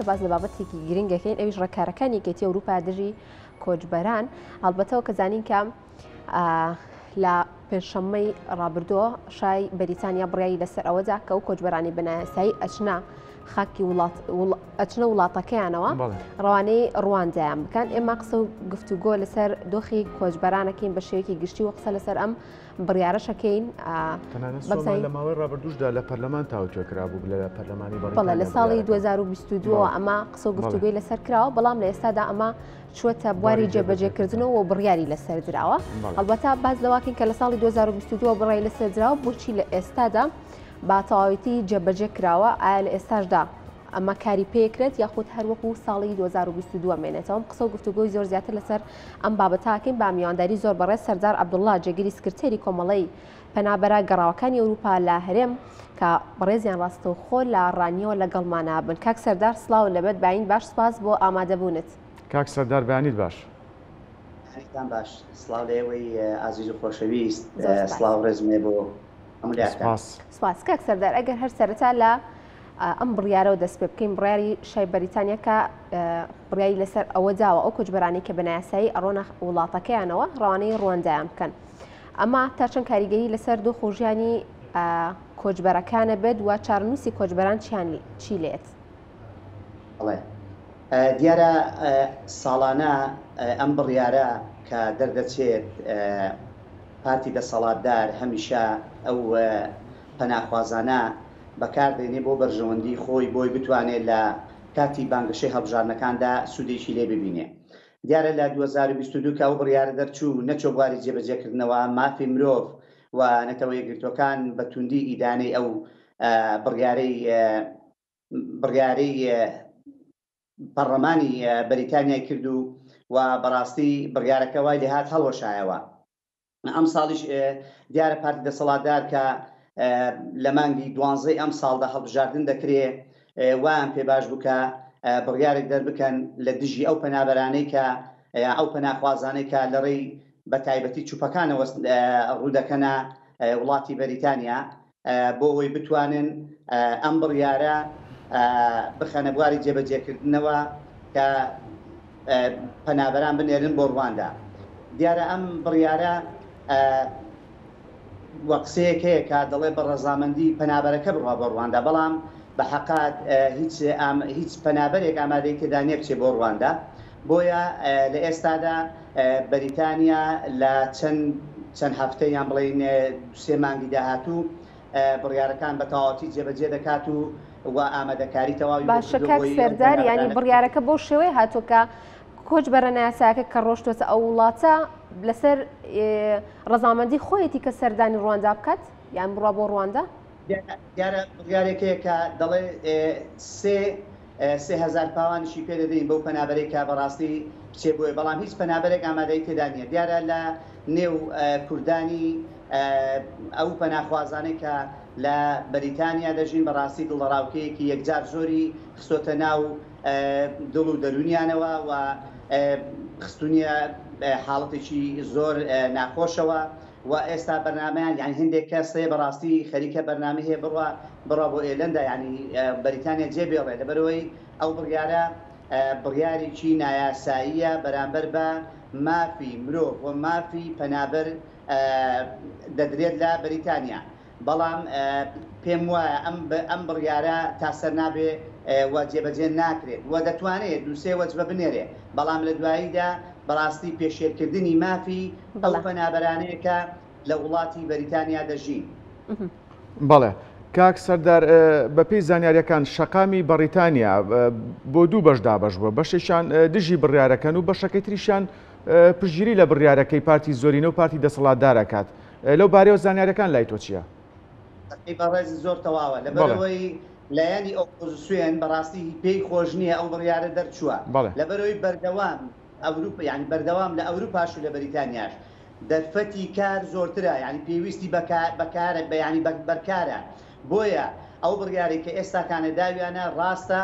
باس لە بابەتێکی گرنگەکەین ئەویش ڕێکارەکانی یەکێتی ئەوروپا دژی کۆچبەران هەڵبەتەوە کە زانین کە لە پێنجشەممەی ڕابردووە شای بەریتانیا بڕیایی لەسەر ئەوەدا کە و کۆچبەرانی بنایەسایی ئەچنا خاکی وڵات ئەچنە وڵاتەکەیانەوە ڕوانەی ڕواندایان بکەن ئێمە قسە و گفتوگۆ لەسەر دۆخی کۆچبەرانەکەین بە شێوەیەکی گشتی و قسە لەسەر ئەم بڕیارەشەکەین لە ماوەی ڕابردوشدا لە پەرلەمان تاوتوێ کرابوو لە پەرلەمانی بەڵە لە ساڵی 2022 ئەمە قسە گفتوگوی لەسەر کراوە بەڵام لە ئێستادا ئەمە چوەتە بواری جێبەجێکردنەوە بڕیاری لەسەر دراوە هەڵبەتا باز لەواکەین کە لە ساڵی 2022 بڕای لەسەر دراوە بۆچی لە ئێستادا با تەواویتی جێبەجێ کراوە ئایا لە ئێستاشدا ئەمە کاری پێکرێت یاخود هەر وەکو ساڵی 2022 مێنێتەوە ئەم قسە و گفتوگۆی زۆر زیاتر لەسەر ئەم بابەتاکەین با میوانداری زۆر بەڕێز سەردار عەبدوڵڵا جێگری سکرتێری کۆمەڵەی پەنابەرە گەڕاوەکانی ئەوروپا لە هەرێم کە بەڕێزیان ڕاستەوخۆ لە ڕانیەوە لەگەڵمانە بن کاک سەردار سڵاو لەبەت باین باش سپاس بۆ ئامادەبونت. کاک سەردار بەیانیت باش. بەیانیتان باش سڵاو لە ئێوەی ئازیز و خۆشەویست سڵاو ڕێزم هەیە بۆ هەموو لایەکتان. سپاس کاک سەردار ئەگەر هەر سەرەتا لە ئەم بڕیارەوە دەست پێ بکەین بڕیاری شای بەریتانیا کە بڕیاری لەسەر ئەوە داوە ئەو کۆچبەرانی کە بەناسایی ئەڕۆنە وڵاتەکەیانەوە ڕوانەی ڕوەندایان بکەن ئەمە تا چەند کاریگەری لەسەر دو خۆژیانی کۆچبەرەکانە بێت و چارنووسی کۆچبەران چیانی چی لێت دیارە ساڵانە ئەم بڕیارە کە دەردەچێت پارتی دەسەڵاتدار هەمیشە ئەو پەناخوازانە بەکار دێنێ بۆ بەرژەوەندی خۆی بۆی بتوانێ لە کاتی بانگەشەی هەڵبژاردنەکاندا سوودێکی لێ ببینێ. دیارە لە دوو هەزار و بیست و دوو کە ئەو بڕیارە دەرچوو نەچووە بواری جێبەجێ کردنەوە، مافی مرۆڤ و نەتەوە یەکگرتووەکان بە تووندی ئیدانەی ئەو بڕیارەی بڕیارەی پەڕڵەمانی بەریتانیای کرد و بەڕاستی بڕیارەکە وای لێهات هەڵوەشایەوە. ئەمساڵیش دیارە پارتی دەسەڵاتدار کە لە مانگی دوانزەی ئەمساڵدا هەڵبژاردن دەکرێ وایان پێ باش بوو کە بڕیارێک دەربکەن لە دژی ئەو پەنابەرانەی کە یا ئەو پەناخوازانەی کە لە ڕێی بە تایبەتی چوپەکانەوە ڕوودەکەنە وڵاتی بەریتانیا بۆ ئەوەی بتوانن ئەم بڕیارە بخەنە بواری جێبەجێکردنەوە کە پەنابەران بنێرن بۆ ڕواندا. دیارە ئەم بڕیارە وە قسەیەک هەیە کە دەڵێ بە ڕەزامەندی پەنابەرەکە بڕوا بۆ ڕواندا، بەڵام بە حەقات هیچ پەنابەرێک ئامادەی تێدا نیە بچێ بۆ ڕواندا، بۆیە لە ئێستادا بەریتانیا لە چەند چەند هەفتە یان بڵێین دوو سێ مانگی داهاتوو بڕیارەکان بە تەواوەتی جێبەجێ دەکات و و ئامادەکاری تەواوی بۆ باشە کردووە کاک بۆی ئەو سەردار یانی پەنابەرانە بڕیارەکە بەو شێوەی هاتووە کە کۆچبەرە نایاسایەکە کە ڕۆشتوەتە ئەو وڵاتە لەسەر ئێ، ڕەزامەندی خۆیەتی کە سەردانی ڕواندا بکات یان بڕوا بۆ ڕواندا دیارە بڕیارێک هەیە کە دەڵێ سێ سێ هەزار پاوانیشی پێ دەدەین بەو پەنابەرەی کە بەڕاستی بچێ بۆیە، بەڵام هیچ پەنابەرێک ئامادەی تێدا نییە. دیارە لە نێو کوردانی ئەو پەناخوازانەی کە لە بەریتانیا دەژین بەڕاستی دڵەڕاوکێیەکی یەکجار زۆری خستۆتە ناو دڵ و دەروونیانەوە و خستوونیە حاڵەتێکی زۆر ناخۆشەوە. وە ئێستا بەرنامەیان یانی هەندێک کەس هەیە بەڕاستی خەریکە بەرنامەی هەیە بڕوا بڕوا بۆ ئێلەندا یانی بەریتانیا جێ بێڵێ لەبەرئەوەی ئەو بڕیارە بڕیاریکی نایاساییە بەرامبەر بە مافی مرۆڤ وە مافی پەنابەر دەدرێت لە بەریتانیا بەڵام پێم وایە ئەم بڕیارە تا سەر نابێ و جێبەجێ ناکرێت و دەتوانێ دوو سێ وەجبە بنێرێ، بەڵام لە دواییدا بەڕاستی پێشێلکردنی مافی ئەو پەنابەرانەیە کە لە وڵاتی بەریتانیا دەژین. بەڵێ کاک سەردار بە پێی زانیاریەکان شەقامی بەڕیتانیا بۆ دوو بەش دابش بووە بەشێکیان دژی بڕارەکەن و بەشەکەی تریشان پژگیری لە بڕارەکەی پارتی زۆرینە و پارتی دەسەڵاتدارەکات لەو بارەیەوە زانیاریەکان لای تۆ چیە؟ قسەی بەڕێزت زۆر تەواوە، لەبەرئەوەی لایەنی ئۆپۆزسیۆن بەڕاستی پێی خۆش نیە ئەو بڕیارە دەرچووە، لەبەرئەوەی بەردەوام ئەوروپا یانی بەردەوام لە ئەوروپاش و لە بەریتانیاش دەرفەتی کار زۆرترە یانی پێویستی بە بە کارە بە یانی بەر کارە بۆیە ئەو بڕیارەی کە ئێستاکانە داویانە ڕاستە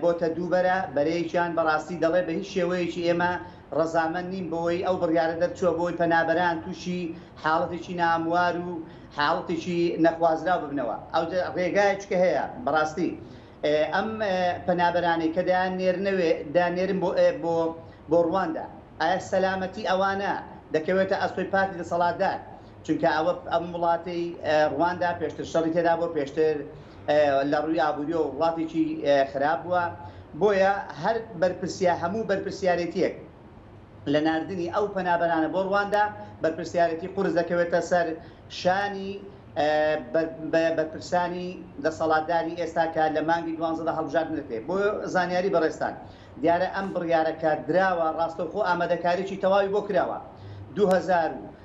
بۆتە دووبەرە بەرەیەکیان بەڕاستی دەڵێ بە هیچ شێوەیەکی ئێمە ڕەزامەند نیم بەوەی ئەو بڕیارە دەرچووە بەوەی پەنابەران تووشی حاڵەتێکی ناهەموار و حاڵەتێکی نەخوازراو ببنەوە ئەوجە ڕێگایە چکە هەیە بەڕاستی ئەم پەنابەرانەی کە دەیان نێرنەوێ دەیان نێرن بۆ بۆ بۆ ڕواندا ئایا سەلامەتی ئەوانە دەکەوێتە ئەستۆی پارتی دەسەڵاتدار؟ چونکە ئەوە ئەم وڵاتەی ڕواندا پێشتر شەڕی تێدا بووە پێشتر لە ڕووی ئابووریەوە وڵاتێکی خراپ بووە بۆیە هەر بەرپرسیا هەموو بەرپرسیارێتیەک لە ناردنی ئەو پەنابەرانە بۆ ڕواندا بەرپرسیارێتی قورس دەکەوێتە سەر شانی بەرپرسانی دەسەڵاتداری ئێستا کە لە مانگی دوانزەدا هەڵبژاردنەکرێت بۆ زانیاری بەڕێزتان دیارە ئەم بڕیارە کە دراوە ڕاستەوخۆ ئامادەکاریی تەواوی بۆ کراوە دوو هەزار و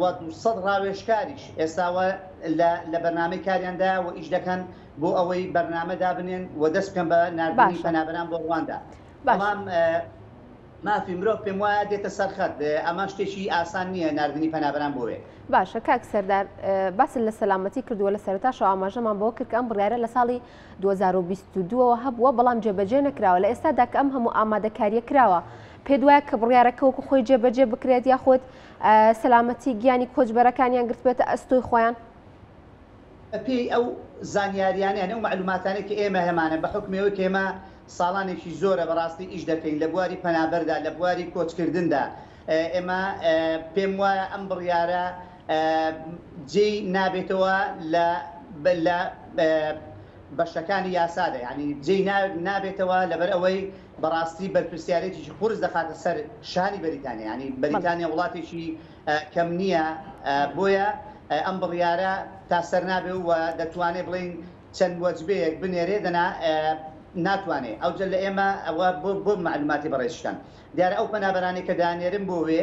و دوو سەد ڕاوێژکاریش ئێستا وە لە لە بەرنامەی کاریان دا وە ئیش دەکەن بۆ ئەوەی بەرنامە دابنێن و دەست بکەن بە ناردنی پەنابەران بۆ ڕواندا بەڵام مافی مرۆڤ پێم وایە دێتە سەرخەت ئەمە شتێکی ئاسان نییە نردنی پەنابران بۆێ باشە کاک سەردار باس لە سەلامەتی کردووە لە سەرتاشەوە ئاماژەمان بۆ کرد ئەم بڕارە لە ساڵی 2022ەوە هەبووە بەڵام جێبەجێ نەکراوە لە ئێستادا کە ئەم هەموو ئامادەکاریە کراوە پێت وایە کە بڕیارەکە وەکو خۆی جێبەجێ بکرێت یاخود سەلامەتی گیانی کۆچبەرەکانیان گرتبێتە ئەستۆی خۆیان؟ بەپێی ئەو زانیارییانە یان ئەو مەعلووماتانەی کە ئێمە هەمانە بە حوکمی ئەوەی کە ئێمە ساڵانێکی زۆرە بەڕاستی ئیش دەکەین لە بواری پەنابەردا لە بواری کۆچکردندا ئێمە پێم وایە ئەم بڕیارە جێی نابێتەوە لە لە بەشەکانی یاسادا یانی جێی نابێتەوە لەبەر ئەوەی بەڕاستی بەرپرسیارێتیی قورس دەخاتە سەر شانی بەریتانیا، یانی بەریتانیا وڵاتێکی کەم نییە، بۆیە ئەم بڕیارە تا سەر نابێ و دەتوانێ بڵێین چەند وەجبەیەک بنێرێ دەنا ناتوانێ، ئەوجە لە ئێمە ئەوە بۆ مەعلوماتی بەڕێزیشتان دیارە ئەو پەنابەرانەی کە دانێرن بۆ وێ،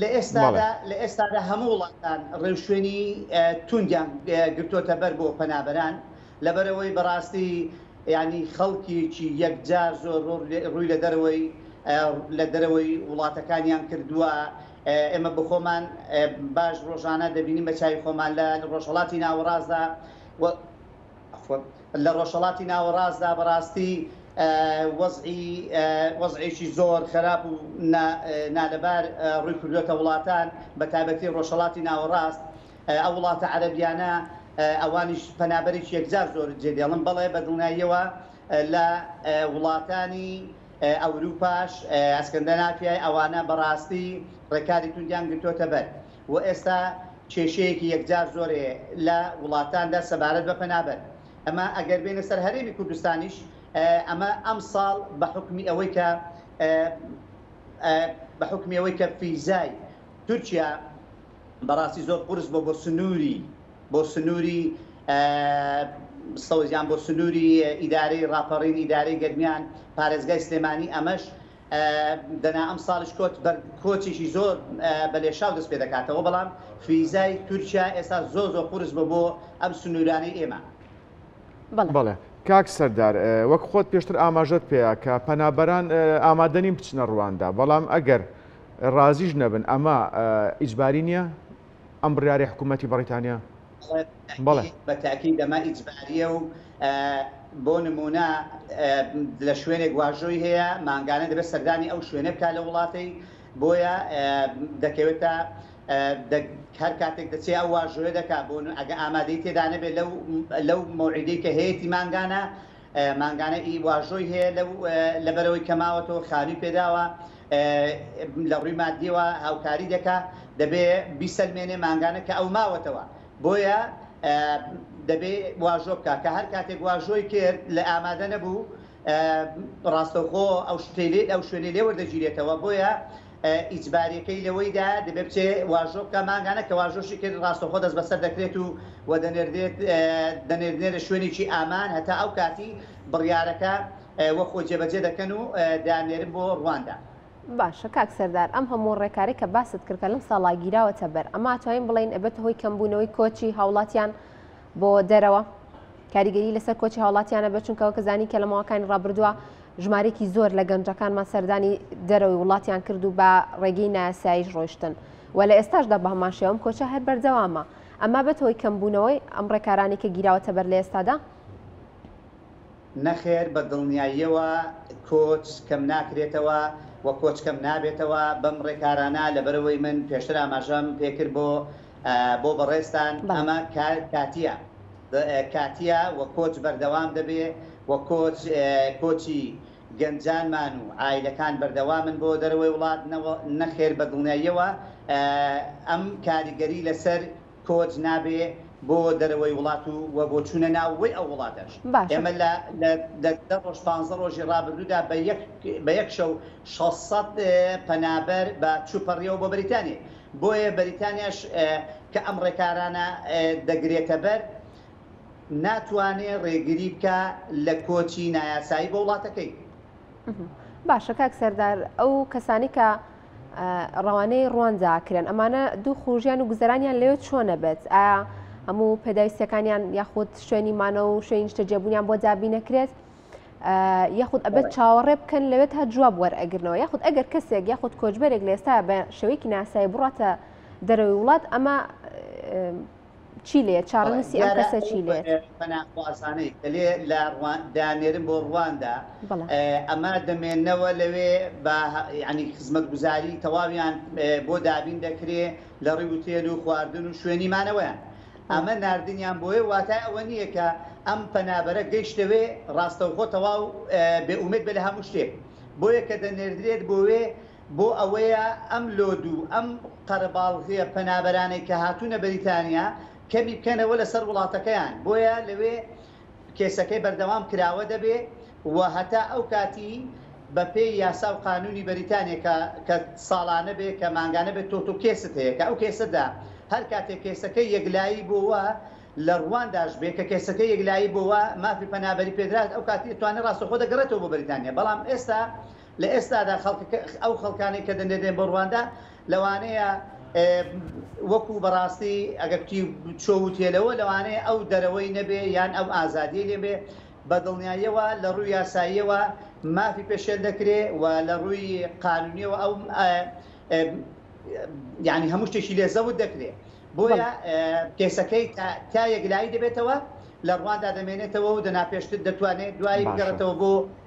لە ئێستادا لە ئێستادا هەموو وڵاتان ڕێوشوێنی توندیان گرتوۆتە بەر بۆ پەنابەران لەبەرەوەی بەڕاستی ینی خەڵکیی یەکجار زۆر ڕووی لە دەرەوەی لە دەرەوەی وڵاتەکانیان کردووە ئێمە بخۆمان باش ڕۆژانە دەبینین بە چای خۆمان لە ڕۆژهڵاتی ناوەڕاستدا لە ڕۆژهەڵاتی ناوەڕاستدا بەڕاستی وەزعی وەزعێکی زۆر خەراپ و نالەبار ڕووی کردووەتە وڵاتان بە تایبەتی ڕۆژهەڵاتی ناوەڕاست ئەو وڵاتە عەرەبیانە ئەوانیش پەنابەرێکی یەکجار زۆر جێ دێڵن بەڵێ بە دڵنیاییەوە لە وڵاتانی ئەوروپاش ئەسکەندەنافیای ئەوانە بەڕاستی ڕێکاری توندیان گرتۆتە بەر. و ئێستا کێشەیەکی یەکجار زۆرێ لە وڵاتاندا سەبارەت بە پەنابەر ئەمە ئەگەر بێنە سەر هەرێمی کوردستانیش ئەمە ئەمساڵ بە حوکمی ئەوەی کە بە حوکمی ئەوەی کە فیزای تورکیا بەڕاستی زۆر قورس بۆ بۆ سنووری بۆ سنووری سەوزیان بۆ سنووری ئیدارەی ڕاپەڕین ئیدارەی گەرمیان پارێزگای سلێمانی ئەمەش دەنا ئەمساڵیش کۆچ بەر کۆچێکی زۆر بە لێشاو دەست پێ دەکاتەوە، بەڵام فیزای تورکیا ئێستا زۆر زۆر قورس بووە بۆ ئەم سنوورانەی ئێمە. بەڵێ کاک سەردار، وەک خۆت پێشتر ئاماژەت پێیا کە پەنابەران ئامادە نین بچنە ڕواندا، بەڵام ئەگەر ڕازیش نەبن ئەمە ئیجباری نییە؟ ئەم بڕیارەی حکوومەتی بەڕیتانیا؟ بەڵێ. بە تاکید ئەمە ئیجبارییە و بۆ نموونە لە شوێنێک واژۆی هەیە، مانگانە دەبێت سەردانی ئەو شوێنە بکات لە وڵاتەی، بۆیە دەکەوێتە هەر کاتێک دەچێت ئەو واژۆیە دەکات، بۆ ئەگەر ئامادەی تێدا نەبێت لەو مەوعیدەی کە هەیەتی مانگانە، مانگانە ئی واژۆی هەیە لەو لەبەرئەوەی کە ماوەتەوە خانوی پێداوە لە ڕوی مادیەوە هاوکاری دەکا دەبێ بیسەلمێنێ مانگانە کە ئەو ماوەتەوە بۆیە دەبێ واژۆ بکا کە هەر کاتێک واژۆی کرد لە ئامادە نەبوو ڕاستەوخۆ ئەو شتەی لێ ئەو شوێنەی لێ وەردەگیرێتەوە بۆیە ئیجباریەکەی لەوەیدایە دەبێ بچێ واژۆ بکا مانگانە کە واژۆشی کرد ڕاستەوخۆ دەست بەسەر دەکرێت و و دەنێردرێت دەنێردرێنە شوێنێکی ئامان هەتا ئەو کاتی بڕیارەکە وە خۆی جێبەجێ دەکەن و دەیاننێرن بۆ ڕواندا. باشە کاک سەردار ئەم هەموو ڕێکارەی کە باست کرد کە لەم ساڵا گیراوەتە بەر ئەمە ئەتوانین بڵێین ئەبێتە هۆی کەمبوونەوەی کۆچی هاوڵاتیان بۆ دەرەوە؟ کاریگەری لەسەر کۆچی هاوڵاتیانە بە چونکە وەکە زانی کە لە ماوەکانی ڕابردووە ژمارێکی زۆر لە گەنجەکانمان سەردانی دەرەوەی وڵاتیان کرد و بە ڕێگەی ناسایش ڕۆشتن و لە ئێستاشدا بە هەمان شێوەم کۆچە هەر بەردەوامە ئەمە بەت هۆی کەمبوونەوەی ئەم ڕێکارانی کە گیراوەتە بەر لە ئێستادا نەخێر بە دڵنیاییەوە کۆچ کەم ناکرێتەوە و کۆچ کەم نابێتەوە بەم ڕێکارانە لەبەرەوەی من پێشتر ئاماژەم پێکرد بۆ بۆ بەڕێزتان ئەمە کاتیە. کاتیە و کۆچ بەردەوام دەبێ و کۆچ کۆچی گەنجانمان و عایلەکان بەردەوامن بۆ دەرەوەی وڵات نەخێر بە دڵنیاییەوە ئەم کاریگەری لەسەر کۆچ نابێ بۆ دەرەوەی وڵات و و بۆ چوونە ناوەوەی ئەو وڵاتەش باشە. ئێمە لە لە دە ڕۆژ پانزە ڕۆژی ڕابردوودا بە یەک بە یەک شەو شەش سەد پەنابەر بە چووپەڕیەوە بۆ بەریتانیە. بۆیە بەریتانیاش کە ئەم ڕێکارانە دەگرێتەبەر، ناتوانێ ڕێگری بکا لە کۆچی نایاسایی بۆ وڵاتەکەی. باشە کاک سەردار ئەو کەسانی کە ڕەوانەی ڕواندا کرێن ئەمانە دوو خروژیان و گوزەرانیان لەوێ چۆنە بێت ئایا هەموو پێداویستەکانیان یاخود شوێنی مانەوە و شوێنی نیشتەجێبوونیان بۆ دابی نەکرێت یاخود ئەبێت چاوەڕێ بکەن لەوێت تا جواب وەرئەگرنەوە یاخود ئەگەر کەسێک یاخود کۆچبەرێک لێستا بە شێوەیەکی ناسایی بڕاتە دەرەوەی وڵات ئەمە چی لێ چاڕنووسی ئەم کەسە چی لێ پەناخوازانەی دەلێ لە دانێرن بۆ ڕواندا ئەمە دەمێنەوە لەوێ بە ینی خزمەت گوزاری تەواویان بۆ دابین دەکرێ لە ڕیوتێل و خواردن و شوێنی مانەوەیان ئەمە ناردنیان بۆێ واتای ئەوە نییە کە ئەم پەنابەرە گەیشتەوێ ڕاستەوخۆ تەواو بێ ئومێد بێ لە هەموو شتێک بۆیە کە دەنێردرێت بۆێ بۆ ئەوەیە ئەم لۆدو ئەم قەرەباڵغیە پەنابەرانەی کە هاتوونە بەریتانیا کەمی بکەنەوە لەسەر وڵاتەکەیان بۆیە لەوێ کێسەکەی بەردەوام کراوە دەبێ و هەتا ئەو کاتی بە پێی یاسا و قانوونی بەریتانیا کە کە ساڵانە بێ کە مانگانە بێ تۆ تۆ کێست هەیە کە ئەو کێسە دا هەر کاتێ کێسەکەی یەکلایی بۆوە لە ڕووانداش بێ کە کێسەکەی یەکلایی بۆوە مافی پەنابەری پێدرا ئەو کاتی ئەتوانێ ڕاستەوخۆ دەگەڕێتەوە بۆ بەریتانیا بەڵام ئێستا لە ئێستادا خەڵکەکە، ئەو خەڵکانەی کە دەنێ دێن بۆ رواندا، لەوانەیە وەکو بە راستی ئەگەر کوتی چۆ وتێلەوە، لەوانەیە ئەو دەرەوەی نەبێ یان ئەم ئازادیەی لێ بێ، بە دڵنیاییەوە لە رووی یاساییەوە مافی پێشێل دەکرێ و لە رووی قانونیەوە ئەو یانی هەموو شتێکی لێ زەوت دەکرێ. بۆیە کێسەکەی تا تا یەکلایی دەبێتەوە، لە رواندا دەمێنێتەوە و دەنا پێشتر دەتوانێ دوایی بگەڕێتەوە بۆ.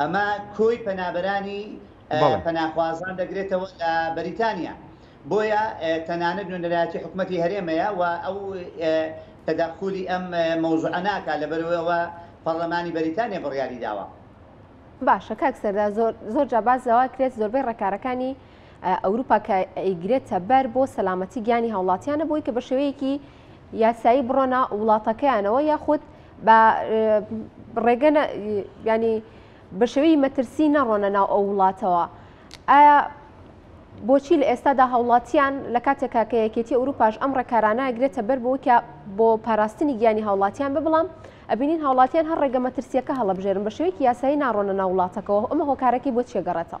ئەمە کۆی پەنابەرانی پەناخوازان دەگرێتەوە لە بەریتانیا، بۆیە تەنانەت نوێنەرایەتی حکومەتی هەرێمەیە و ئەو تەدەخولی ئەم مەوزوعە ناکات، لەبەرئەوەی ئەوە پەڕلەمانی بەریتانیا بڕیاری داوە. باشە کاک سەردار زۆر زۆر جا باس لەوە کرێت زۆربەی ڕێکارەکانی ئەوروپا کە ئەیگرێتە بەر بۆ سەلامەتی گیانی هاوڵاتیانە بۆی کە بە شێوەیەکی یاسایی بڕۆنە وڵاتەکەیانەوە یاخود بە ڕێگە ینی بە شێوەی مەترسی نەڕۆنە ناو ئەو وڵاتەوە ئایا بۆچی لە ئێستادا هاوڵاتیان لە کاتێکا کە یەکێتی ئەوروپاش ئەم ڕێکارانە گرێتە بەر بۆ کە بۆ پاراستنی گیانی هاوڵاتیان ببڵام ئەبینین هاوڵاتیان هەر ڕێگە مەترسیەکە هەڵبژێرن بە شێوەیەکی یاسایی ناڕۆنە ناو وڵاتەکەەوە ئەمە هۆکارەکەی بۆ چێگەڕێتەوە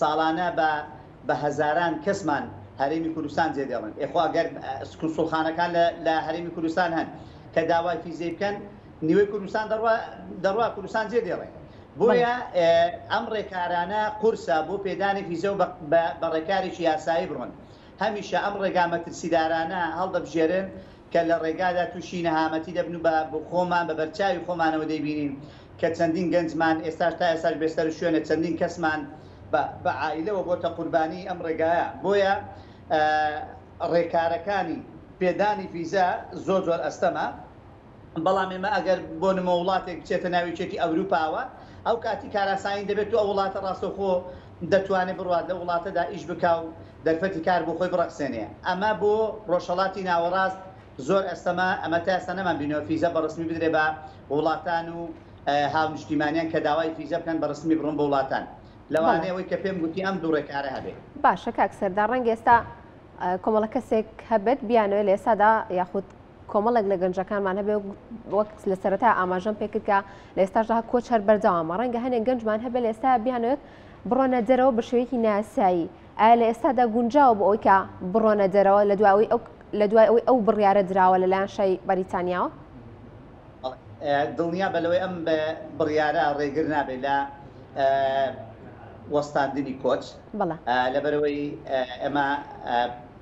ساڵانە بە بە هەزاران کەسمان هەرێمی کوردستان جێدێڵن ئێ خۆ گەر کونسوڵخانەکان لە لە هەرێمی کوردستان هەن کە داوای فیزەی بکەن نیوەی کوردستان دەڕوا دەڕوا کوردستان جێدێڵێ بۆیە بەڵێ ئێ ئەم ڕێکارانە قورسە بۆ پێدانی فیزە و بە بە بە ڕێکارێکی یاسایی بڕۆن هەمیشە ئەم ڕێگا مەترسیدارانە هەڵدەبژێرێن کە لە ڕێگادا تووشی نەهامەتی دەبن و بە خۆمان بە بەرچاوی خۆمانەوە دەیبینین کە چەندین گەنجمان ئێستاش تا ئێستاش بێ سەر و شوێنە چەندین کەسمان بە بە عائیلەوە بۆتە قوربانی ئەم ڕێگایە بۆیە ڕێکارەکانی پێدانی ڤیزە زۆر زۆر ئەستەمە بەڵام ئێمە ئەگەر بۆ نمۆ وڵاتێک بچێتە ناو یەکێتی ئەوروپاوە ئەو کاتی کاراسانی دەبێت و ئەو وڵاتە ڕاستەوخۆ دەتوانێ بڕوات لەو وڵاتەدا ئیش بکا و دەرفەتی کار بۆ خۆی بڕەخسێنێ. ئەمە بۆ ڕۆژهەڵاتی ناوەڕاست زۆر ئەستەمە، ئەمە تا ئێستا نەمان بینیوە فیزە بە ڕەسمی بدرێ بە وڵاتان و هاونیشتیمانیان کە داوای فیزە بکەن بە ڕەسمی بڕن بۆ وڵاتان. بەڵێ. لەوانەیە ئەوەی کە پێم گوتی ئەم دوو ڕێکارە هەبێ. باشە کاک سەردار ڕەنگە ئێستا کۆمەڵە کەسێک هەبێت بیانەوێ لە ئێستادا یاخود کۆمەڵێک لە گەنجەکانمان هەبێ وەک لە سەرەتا ئاماژەم پێکرد کە لە ئێستاشدا کۆچ هەر بەردەوامە ڕەنگە هەنێک گەنجمان هەبێ لە ئێستا بیانوێت بڕۆنە دەرەوە بە شێوەیەکی ناسایی ئایا لە ئێستادا گونجاوە بۆ ئەوی کە بڕۆنە دەرەوە لە دواوی ئەو لە دوای ئەوەی ئەو بڕیارە دراوە لەلایەن شای بەریتانیاوە دڵنیا بە لەوەی ئەم بڕیارە ڕێگر نابێت لە وەستاندنی کۆچ لەبەرەوەی ئەمە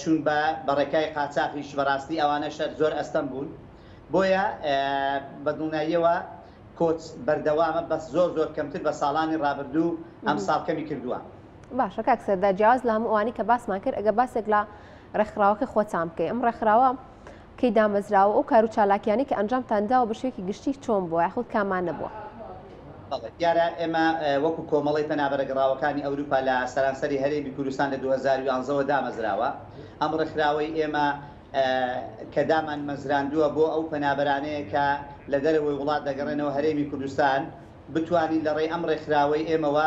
چون بە بە ڕێکای قاچاخیش بەڕاستی ئەوانە شەر زۆر ئەستەم بوون بۆیە بە دڵنیاییەوە کۆچ بەردەوامە بەس زۆر زۆر کەمتر بە ساڵانی ڕابردوو ئەم ساڵ کەمی کردووە. باشە کاک سەردار جیاواز لە هەموو ئەوانەی کە باسمان کرد ئەگەر باسێک لە ڕێکخراوەکەی خۆتان بکەی ئەم ڕێکخراوە کەی دامەزراوە و ئەو کار و چالاکیانەی کە ئەنجامتان داوە بە شێوەیەکی گشتی چۆن بووە یاخود کامانە بووە؟ بەڵێ دیارە ئێمە وەکو کۆمەڵەی پەنابەرە گەڕاوەکانی ئەوروپا لە سەرانسەری هەرێمی کوردستان لە دوو هەزار و یانزە وە دامەزراوە ئەم ڕێکخراوەی ئێمە کە دامان مەزراندووە بۆ ئەو پەنابەرانەیە کە لە دەرەوەی وڵات دەگەڕێنەوە هەرێمی کوردستان بتوانین لە ڕێی ئەم ڕێکخراوەی ئێمەوە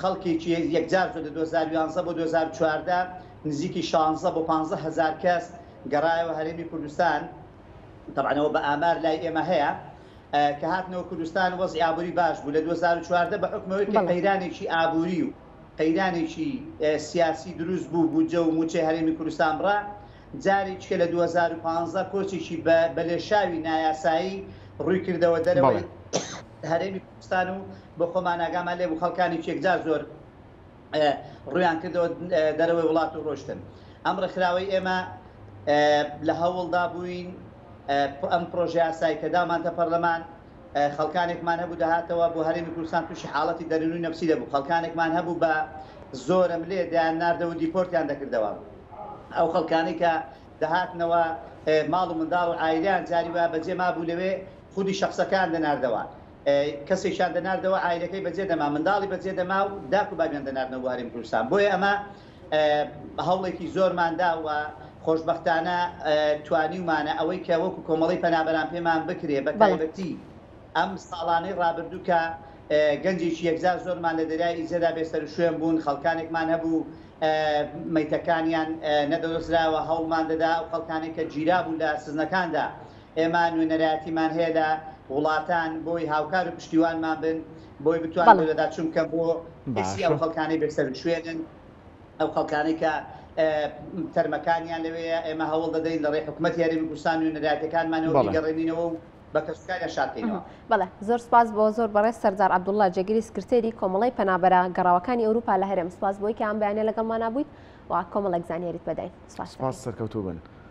خەڵکێکی یەکجار زۆر، لە دوو هەزار و یازدە بۆ دوو هەزار و چواردە نزیکی شانزدە بۆ پانزدە هەزار کەس گەڕایەوە هەرێمی کوردستان، تەبعەن ئەوە بە ئامار لای ئێمە هەیە کە هاتنەوە کوردستان وەزعی ئابووری باش بوو لە دوو هەزار و چواردە بە حوکمی ئەوەی کە بەڵێ. قەیرانێکی ئابووری و قەیرانێکی سیاسی دروست بوو بودجە و مووچەی هەرێمی کوردستان بڕا جارێکیکە لە دوو هەزار و پازدە کۆچێکی بە بەلێشاوی نایاسایی ڕووی کردەوە دەرەوەی بەڵێ. هەرێمی. ستان و بۆ خۆمان ئاگامان لێ بوو خەڵکانی چێکدا زۆر ڕوویان کردەوە دەرەوەی وڵات و ڕۆشتن ئەم ڕێکخراوەی ئێمە لە هەوڵدا بووین ئەم پرۆژە یاسای کە دامانتە پەرلەمان خەڵکانێکمان هەبوو دەهاتەوە بۆ هەرێمی کوردستان تووشی حاڵەتی دەروونی نەفسی دەبوو خەڵکانێکمان هەبوو بە زۆرم لێ دەیان ناردەوە و دیپۆرتیان دەکردەوە ئەو خەڵکانەی کە دەهاتنەوە ماڵ و منداڵ و عایلیان جاری وایە بەجێ مابوو لەوێ خودی شەخسەکەیان دەناردەوە، کەسێکیان دەناردەوە عایلەکەی بەجێ دەما، منداڵی بەجێ دەما و داک و بابیان دەناردنەوە بۆ هەرێمی کوردستان، بۆیە ئەمە هەوڵێکی زۆرمان دا و خۆشبەختانە توانیومانە ئەوەی کە وەکو کۆمەڵەی پەنابەران پێمان بکرێ، بەتایبەتی ئەم ساڵانەی رابردوو کە گەنجێکی یەکجار زۆرمان لە دەریای ئیجەدا بێ سەروشوێن بوون، خەڵکانێکمان هەبوو مەیتەکانیان نەدەدۆزرایەوە، هەوڵمان دەدا ئەو خەڵکانەی کە گیرابوون لە سزنەکاندا، ئێمە نوێنەرایەتیمان هەیە لە وڵاتان بۆی هاوکار و پشتیوانمان بن بۆی بتوان بۆ لەدا چوون بکەن بۆ باسی ئەو خەڵکانەی بێسەر شوێنن ئەو خەڵکانەی کە تەرمەکانیان لەوەیە ئێمە هەوڵ دەدەین لە ڕێ حکوومەت یاریمی کوردستان و نەراتەکانمانەوە بگەڕێنینەوە و بە کەسوکاریان شارکەینەوە بەڵێ زۆر سپاس بۆ زۆر بەڕێز سەرزار عبدوڵلا جێگری سکرتێری کۆمەڵی پەنابەرە گەڕاوەکانی ئەوروپا لە هەرێم سپاس بۆی کە ئەم بەیانە لەگەڵمانە بوویت و کۆمەڵێک زانیاریت بەداین سپاس سەرکەوتوو بن.